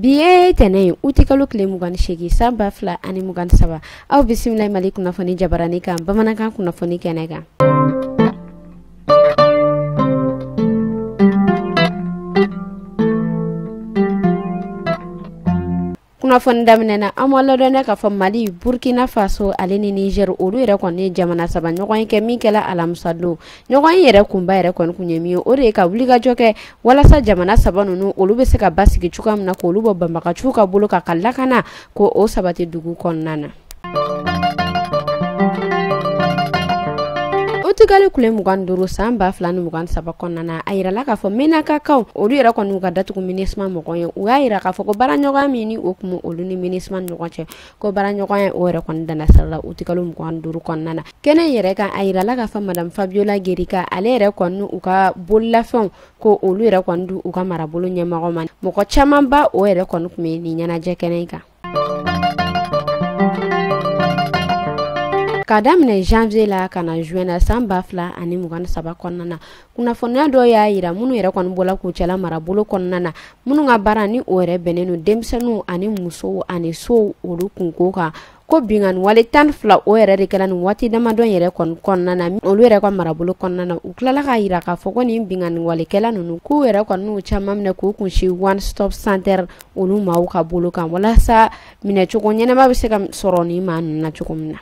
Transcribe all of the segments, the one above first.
bi ye tɛnɛ ye uti kalo tile mugan ni segin san ba fila ani mugan saba aw bisimila mali kunnafoni jabarani kan bamanankan kunnafoni kɛnɛ kan kunnafoni daminɛ na an b'a ladɔnniya k'a fɔ mali burkina faso ale ni niger olu yɛrɛ kɔni ye jamana saba ɲɔgɔnye kɛ min kɛla alamisa don ɲɔgɔnye yɛrɛ kunba yɛrɛ kɔni kun ye min ye o de ye ka wulikajɔ kɛ walasa jamana saba ninnu olu bɛ se ka basigi cogoya min na k'olu bɔ banbagaciw ka bolo kan ka lakana ko o sabati dugu kɔnɔna na uti kalo tile mugan duuru san ba fila ni mugan saba kɔnɔna na a yirala k'a fɔ menakakaw olu yɛrɛ kɔni ka datugu minusma mɔgɔ ye u y'a yira k'a fɔ ko baaraɲɔgɔnya min ni o tun bɛ olu ni minusma ni ɲɔgɔn cɛ ko baaraɲɔgɔnya o yɛrɛ kɔni danna sira la uti kalo mugan duuru kɔnɔna na kɛnɛ yɛrɛ kan a yirala k'a fɔ madam fabiola gerika ale yɛrɛ kɔni u ka bololafɛnw ko olu yɛrɛ kɔni di u ka marabolo ɲɛmɔgɔ ma mɔgɔ caman ba o yɛrɛ kɔni tun bɛ nin ɲɛnajɛ kɛnɛ kan ka daminɛ janvier la ka na juin na san ba fila ani mugan ni saba kɔnɔna na kunnafoniya dɔ y'a yira minnu yɛrɛ kɔni bɔla kucala marabolo kɔnɔna na minnu ka baara ni o yɛrɛ bɛnnen don denmisɛnninw ani musow ani sow olu kunko kan ko binkanni wale tan fila o yɛrɛ de kɛra nin waati damadɔ yɛrɛ kɔni kɔnɔna na olu yɛrɛ ka marabolo kɔnɔna na u tilala k'a yira k'a fɔ ko nin binkanni walekɛla ninnu k'u yɛrɛ kɔni n'u caman minɛ k'u kunsin one stop center olu maaw ka bolo kan walasa minɛcogo ɲɛnama bɛ se ka sɔrɔ nin maa ninnu na cogo min na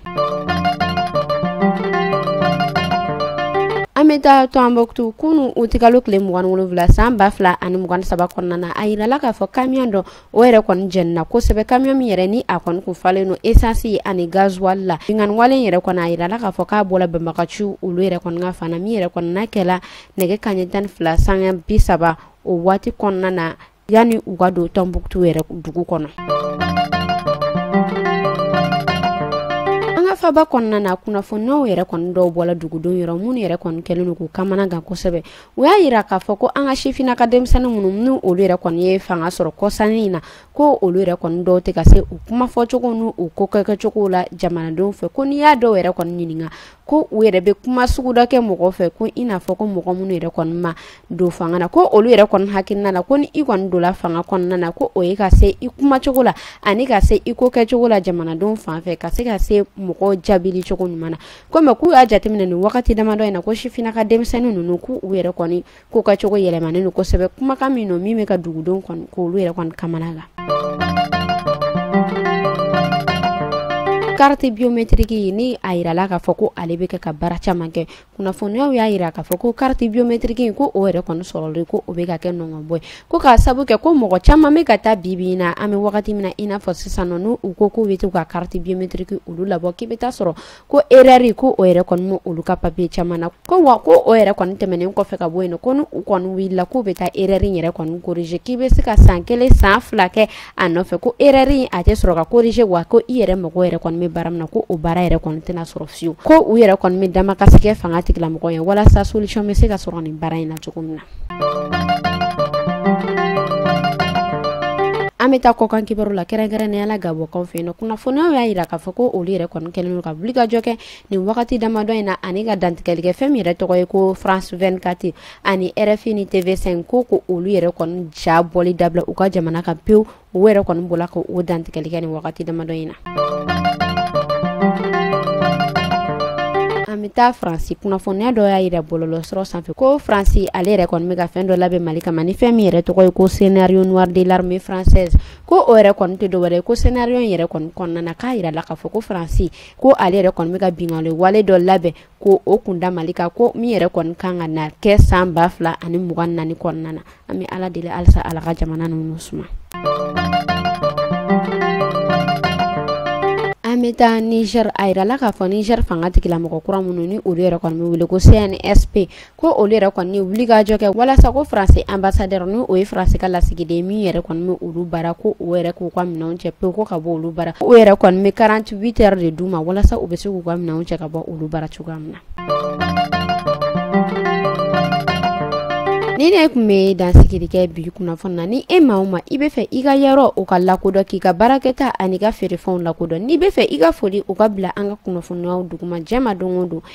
an bɛ taa tombouctou kunu uti kalo tile mugan wolonwula san ba fila ani mugan saba kɔnɔna na a yirala k'a fɔ kamiyɔn dɔ o yɛrɛ kɔni jenina kosɛbɛ kamiyɔn min yɛrɛ ni a kɔni tun falen don esansi ani gazuwali la binkanni wale yɛrɛ kɔni a yirala k'a fɔ k'a bɔla banbagaciw olu yɛrɛ kɔni ka fan na min yɛrɛ kɔni n'a kɛla nɛgɛ kanɲɛ tan ni fila sanga bi saba o waati kɔnɔna na yanni u ka don tombouctou yɛrɛ dugu kɔnɔ an ka faaba kɔnɔna na kunnafoniw yɛrɛ kɔni dɔw bɔla dugudenw yɔrɔ minnu yɛrɛ kɔni kɛlen don k'u kamana gan kosɛbɛ u y'a yira k'a fɔ ko an ka sifinnaka denmisɛnnin minnu ni olu yɛrɛ kɔni ye fanga sɔrɔ kɔsannin in na ko olu yɛrɛ kɔni dɔw tɛ ka se u kumafɔcogo n'u ko kɛkɛcogo la jamanadenw fɛ ko n'i y'a dɔw yɛrɛ kɔni ɲininka ko u yɛrɛ bɛ kuma sugu dɔ kɛ mɔgɔ fɛ ko i n'a fɔ ko mɔgɔ minnu yɛrɛ kɔni ma don fanga na ko olu yɛrɛ kɔni hakilina la ko ni i kɔni donla fanga kɔnɔna na ko o ye ka se i kuma cogo la ani ka se i ko kɛcogo la jamanadenw fan fɛ ka se ka se mɔgɔ jaabili cogo ɲuman na komi k'u y'a jateminɛ nin wagati damadɔ in na ko sifinnaka denmisɛnnin ninnu k'u yɛrɛ kɔni ko kɛcogo yɛlɛmanen don kosɛbɛ kumakan min don min bɛ ka dugudenw kɔni k'olu yɛrɛ kɔni kamanagan carte biométrique ye ni a yirala k'a fɔ ko ale bɛ kɛ ka baara caman kɛ kunnafoniyaw y'a yira k'a fɔ ko carte biométrique in ko o yɛrɛ kɔni sɔrɔlen ko o bɛ ka kɛ nɔngɔnbɔ ye ko k'a sabu kɛ ko mɔgɔ caman bɛ ka taa bi bi in na an bɛ wagati min na i n'a fɔ sisan nɔ n'u u ko k'u bɛ to ka carte biométrique olu labɔ k'i bɛ taa sɔrɔ ko erreur ko o yɛrɛ kɔni bɛ olu ka papiye caman na ko wa ko o yɛrɛ kɔni tɛmɛnen kɔfɛ ka bɔ yen ko ni u kɔni wulila k'u bɛ taa erreur in yɛrɛ kɔni corriger k'i bɛ se ka san kelen san fila kɛ a nɔfɛ ko erreur in a tɛ sɔrɔ ka corriger wa ko i yɛrɛ mɔgɔ yɛrɛ kɔni bɛ baara min na ko o baara yɛrɛ kɔni tɛna sɔrɔ fiyewu ko u yɛrɛ kɔni bɛ damakasi kɛ fanga tigilamɔgɔ ye walasa solution bɛ se ka sɔrɔ nin baara in na cogo min na an bɛ taa kɔkan kibaru la kɛrɛnkɛrɛnnenya la gabɔnkaw fɛ yen nɔ kunnafoniyaw y'a yira k'a fɔ ko olu yɛrɛ kɔni kɛlen don ka wulikajɔ kɛ nin wagati damadɔ in na ani ka dantigɛli kɛ fɛn min yɛrɛ tɔgɔ ye ko france 24 ani rfi ni tv5 ko ko olu yɛrɛ kɔni ja bɔli dabila u ka jamana kan pewu o yɛrɛ kɔni bɔla ka o dantigɛli kɛ nin wagati damadɔ in na an bɛ taa faransi kunnafoniya dɔ y'a yira bɔlɔlɔsiraw sanfɛ ko faransi ale yɛrɛ kɔni bɛ ka fɛn dɔ labɛn mali kama ni fɛn min yɛrɛ tɔgɔ ye ko scénario noir de l'armée française ko o yɛrɛ kɔni tɛ dɔwɛrɛ ye ko scénario in yɛrɛ kɔni kɔnɔna na k'a yirala k'a fɔ ko faransi ko ale yɛrɛ kɔni bɛ ka binkanni wale dɔ labɛn ko o kun da mali kan ko min yɛrɛ kɔni kan ka na kɛ san ba fila ani mugan naani kɔnɔna na an bɛ ala deli halisa ala ka jamana ninnu suma an bɛ taa niger a yirala k'a fɔ niger fanga tigilamɔgɔ kura minnu ni olu yɛrɛ kɔni bɛ wele ko cnsp ko olu yɛrɛ kɔni ye wulikajɔ kɛ walasa ko faransi ambassadeur ni o ye faransi ka lasigiden min yɛrɛ kɔni bɛ olu bara ko o yɛrɛ k'u ka minɛnw cɛ pewu ko ka bɔ olu bara o yɛrɛ kɔni bɛ 48 heures de d'u ma walasa u bɛ se k'u ka minɛnw cɛ ka bɔ olu bara cogoya min na ni ne kun bɛ dansigiri kɛ bi kunnafoni na ni e maa o maa i bɛ fɛ i ka yɔrɔ o ka lakodɔn k'i ka baarakɛta ani ka feerefɛnw lakodɔn n'i bɛ fɛ i ka foli o ka bila an ka kunnafoniyaw duguma jɛma don o don